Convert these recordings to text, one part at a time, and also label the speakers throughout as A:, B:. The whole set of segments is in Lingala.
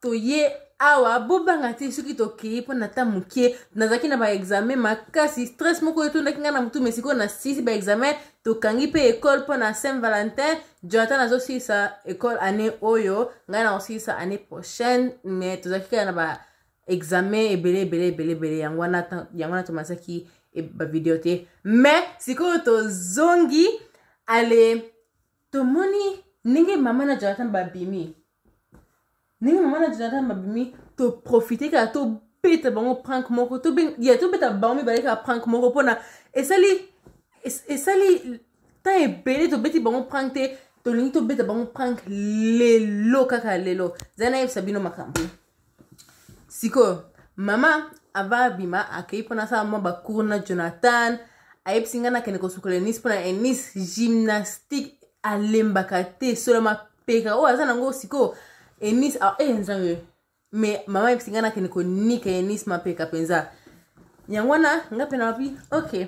A: toye awa bobanga te soki tokei mpo na ta moke nazalaki na baexamen makasi stress moko etondaki ngai na motu me sikoyo na sisi baexamen tokangi mpe ekole mpo na saint valentin jonathan azosilisa ekole année oyo ngai nakosilisa année prochaine me tozalaki kaka na baexamen ebele ebele ebele ebele yango wana tomasaki e, bavideo te me sikoyo tozongi ale tomoni ndenge mama na jonathan babimi ndenge mama na jonathan babimi toprofite kaka tobeta bango prank moko ya tobeta bango mibale kaka prank moko mpona esali esali ntan ebele tobeti bango prank te tolingi tobeta bango prank lelo kaka lelo zali nayebisa bino makambo sikoyo mama ava abima akei mpo nasala mwa bacour na jonathan ayebisi ngai nakende kosukola enis mpo na enis gymnastique alembaka te sola mapeka oyo aza nango sikoyo enis e eh, nzambe me mama ayebisi ngai nakende konika enis mapeka mpenza yango wana ngai mpe nalobi okay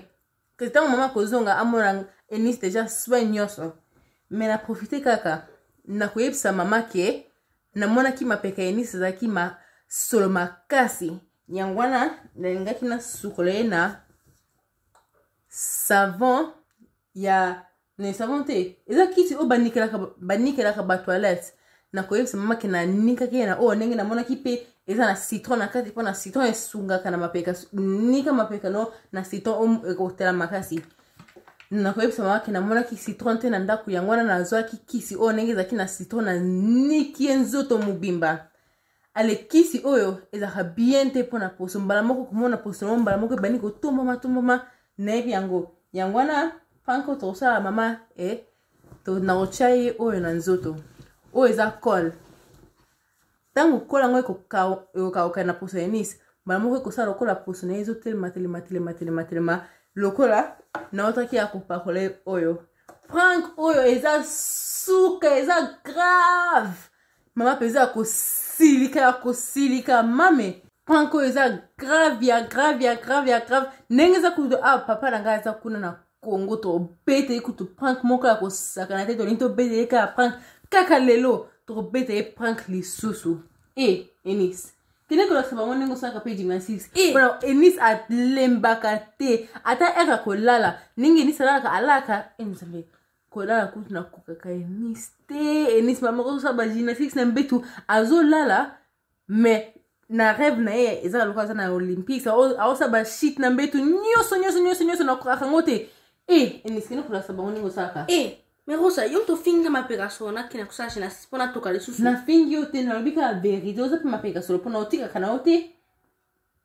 A: que ntango mama akozonga amona enisi deja soin nyonso me na profite kaka na koyebisa mama ke namonaki mapeka ya enisi ezalaki masolo makasi yango wana nalingaki nasukola ye na savon ya ne savons te eza kisi oyo banikelaka banikelaka ba toilette nakoyebisa mama ke nanikaki ye na oyo ndenge namonaki mpe eza na citron na kati mpo na citron esungaka na mapeka nika mapeka no na citron ekotela makasi nakoyebisa mama ke namonaki citron te na ndako yango wana nazwaki kisi oyo ndenge ezalaki na citron na niki ye nzoto mobimba ale kisi oyo ezalaka bien te mpo na poso mbala moko komona poso yango mbala moko ebandi kotombama tombama nayebi yango yango wana panko tokosala mama e to nakotya ye oyo na nzoto oyo eza cole ntango kola yango ekokauka na poso ya nisi mbala moko ekosala lokola poso na ye ezotelema telema telema telema telema lokola naotaki ya kopakola ye oyo prank oyo eza suka eza grave mama mpenza ya kosilika ya kosilika mame prank oyo eza grave ya grave ya grave ya grave ndenge eza kutu awa ah, papa na ngai aza kuna na congo tobeta ye kutu prank moko ya kosakana te tolingi tobeta ye kaka prank kaka lelo tokobeta ye prank lisusu e eh, enis kende kolakisa bango ndenge osalaka mpe gymnastique eh. mpona enis alembaka te ata eka kolala ndenge enis alalaka alaka enizambe eh, kolala kutu nakokaka enisi te enisi mama kosala bagymnastiques na mbetu azolala mais na rêve na ye ezaka lokola aza na olympiques aosa bashit na mbetu nyonso nyonso nyonso nyonso nakokaka yango te e enisikini kolasa bango ndenge osalaka e mais rosa yo
B: tofinga mapekasolo nakina kosala gymnastique mpo natoka lisusu nafingi yo te nalobi
A: kaka verité oza mpe mapekasolo mpo na otikaka na yo te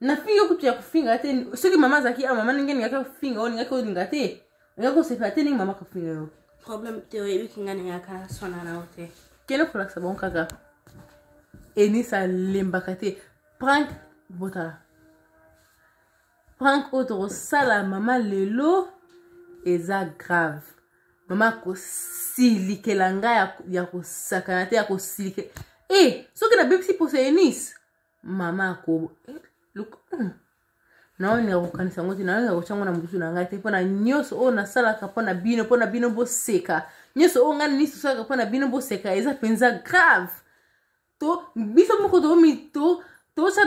A: na fille yo kutu ya kofinga te soki mama azalaki a mama ndenge ningaki kofinga yo ningaki olinga te oya kosepela te ndenge mama kofinga yo problème te oyebi
B: kinga ningaka swana na yo te kende kolakisa bango
A: kaka enisa alembaka te prank botala prank oyo tokosala mama lelo eza grave mama akosilikela ngai ya kosakana te ya kosilikela e eh, soki nabebisi poso ya enise mama akobo eh, look, mm. nayo ndeka kokanisa yango te nayo ndeka kotya yango na mbutu na ngai te mpo na nyonso oyo nasalaka mpo na bino mpo na bino boseka nyonso oyo ngai na nyonso osalaka mpo na bino boseka eza mpenza grave to biso moko tomi to tosa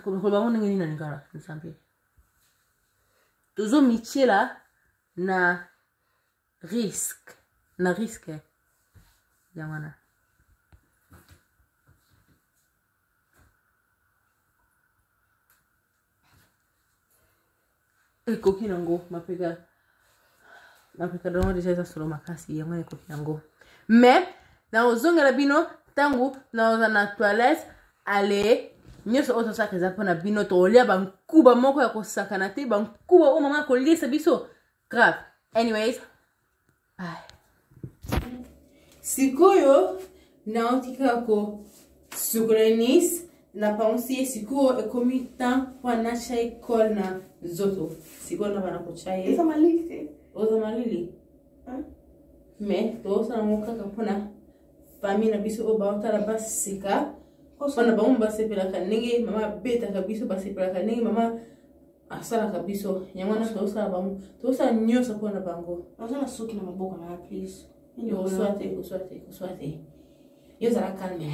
A: koloba ngo ndenge nini na lingala nzambe tozomityela na risque na risque eh. yango wana ekoki nango mapeka mapeka dongo deja eza solo makasi yango wana ekoki nango mais nakozongela bino ntango naoza na toilette ale nyonso oyo tosalaka eza mpo na bino tokolia bankuba moko ya kosakana te bankuba oyo mama akolisa biso grave anyways Ay. sikoyo nauti kaka kosukola nice napangusi ye sikoyo ekomi temps mpo anatya ye cole na nzoto sikoyo na bana kotya ye eza malili te
B: oza malili
A: mais tozosala yango kaka mpona famille na biso oyo baotala baseka mpona bango basepelaka ndenge mama abetaka biso basepelaka ndenge mama asalaka biso yango wana tozosala
B: bango
A: tozosala nyonso mpo
B: na
A: bango
B: naza na
A: soki na
B: maboko
A: na ya
B: plus
A: oswa te oswa te oswa te yo zala calme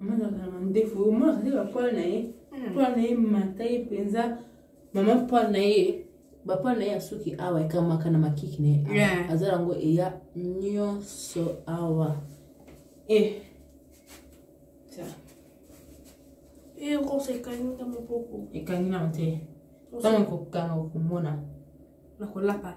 A: mazalaka na mandefu oyo mwana azali bapoil na ye hmm. poil na ye mata ye mpenza mama poil na ye bapoil na ye ya suki awa ekamaka na makiki na ye awa aza yango eya nyonso awa e eh.
B: erosa eh, ekangi na maboko ekangi na te
A: ntango ekokanga okomona na
B: kolapa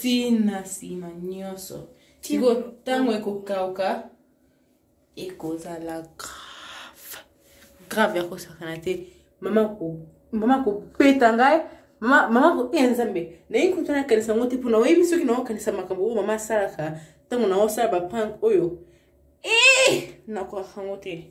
A: tina nsima nyonso siko ntango ekokauka ekozala grave grave ya kosakana te mama mama kobeta ngai mama ko e nzambe naye kutu nakanisa yango te mpo naoyebi soki naokanisa makambo oyo mama asalaka ntango naosala baprank oyo e eh! nakoaka yango te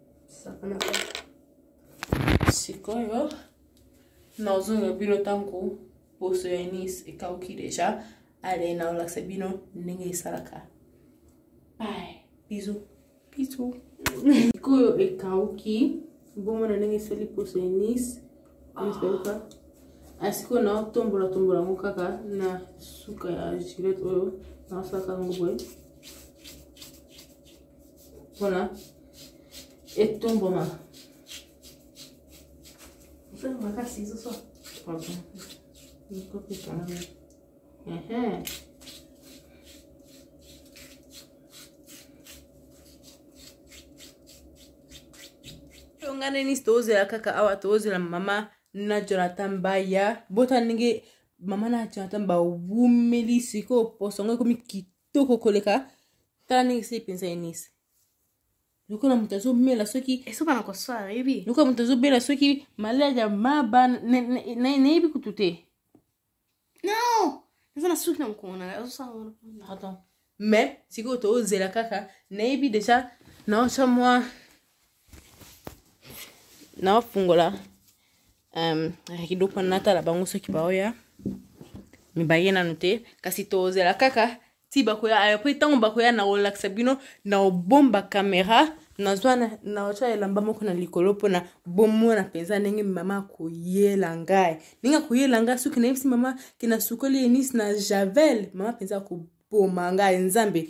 A: sikoyo nazonga bino ntango poso ya nice ekauki deja ale naolakisa bino ndenge esalaka bye bizu bizu sikoyo ekauki bomona ndenge esali poso ya nice esauka asiko ah, naotombola tombola yango kaka na suka ya gilete oyo naosalaka yango boye mpona etumbuma mpona makasi ezoso tonganani tozela kaka awa tozela mama na jonathan baya bota ndenge mama na jonathan bawumeli sikoyo poso yango ekomi kita toko koleka tala ndenge esili mpenza enisi lokola moto azomela soki esopana kosala yebi
B: lokola moto azobela soki
A: maladi ya maba nayebi kutu te
B: non eza na suki na mokongo na azosala pardon
A: mais sikoyo tozela kaka nayebi deja naotya mwa naofungola um, kidoko natala bango soki baoya mibaye nanu te kasi tozela kaka ti bakoya apres ntango bakoya na kolakisa bino na obomba kamera nazwa natya elamba moko na likolo mpona bomona mpenza ndenge mama akoyela ngai ndenge akoyela ngai soki nayebisi mama ke nasukoli enisi na javel mama mpenza akoboma ngai nzambe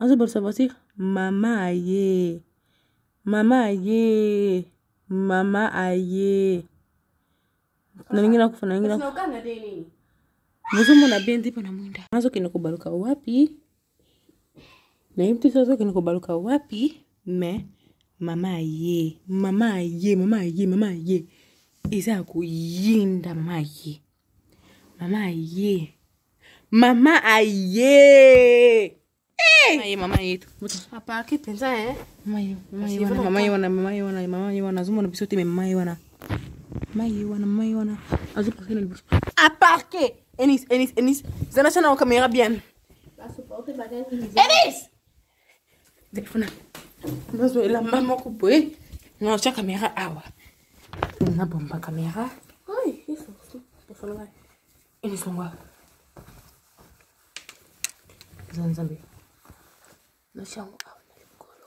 A: azo bolisa basi mama aye mama aye mama aye nalingi nakufa nalingi nakufa
B: bozomona
A: bendi mpo na mwinda azokende kobaluka wapi nayebi te so azokende kobaluka wapi me mama aye mama aye mama aye mama aye eza ya koyinda maye mama aye mama aye
B: aparki
A: mpenza azomona biso te me mama ye wana mama ye wana mama ye wana azoparke na liboso aparke enis enis enis zana sana okamera bien enis telefona nazo elamba moko boye natya kamera awa nabomba kamera
B: elisonga
A: eza nzambe natyango awa na likolo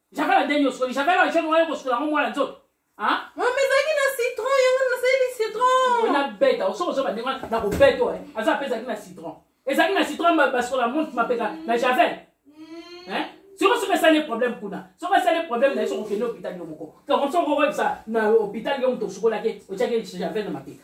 C: javel ya ndenge osukoli javel ya jaune wana okosukola yango mwana nzoto mama ezalaki na
A: citron yango nasaleli citron nabeta osoki
C: ozoba ndenge wana nakobeta oyo aza mpe ezalaki na citron ezalaki na citron basukola monte mapeka na javel siko soki esali problème kuna soki esali problème na ye soki okende hôpital yo moko donc soki okoyebisa na hôpital yo moto osukolaki otyaki javel na mapeka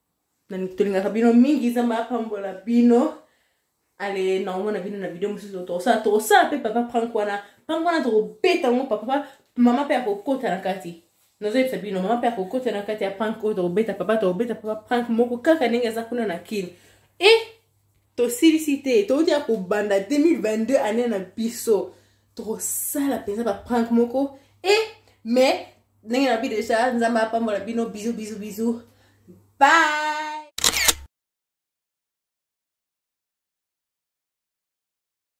A: tolingaka bino mingi nzambe apambola bino ale naomona bino na video mosusu tokosala tokosala mpe papa prank wana prank wana tokobeta yango papa mama mpe akokota na kati nazoyebisa bino mama mpe akokota na kati ya prank oyo tokobeta papa tokobeta papa prank moko kaka ndenge aza kuna na kin e tosilisi te touti ya kobanda 2022 ane na biso tosala mpenza baprank moko e eh, mais ndenge na bi deja nzambe apambola bino bizu bizu bizu bye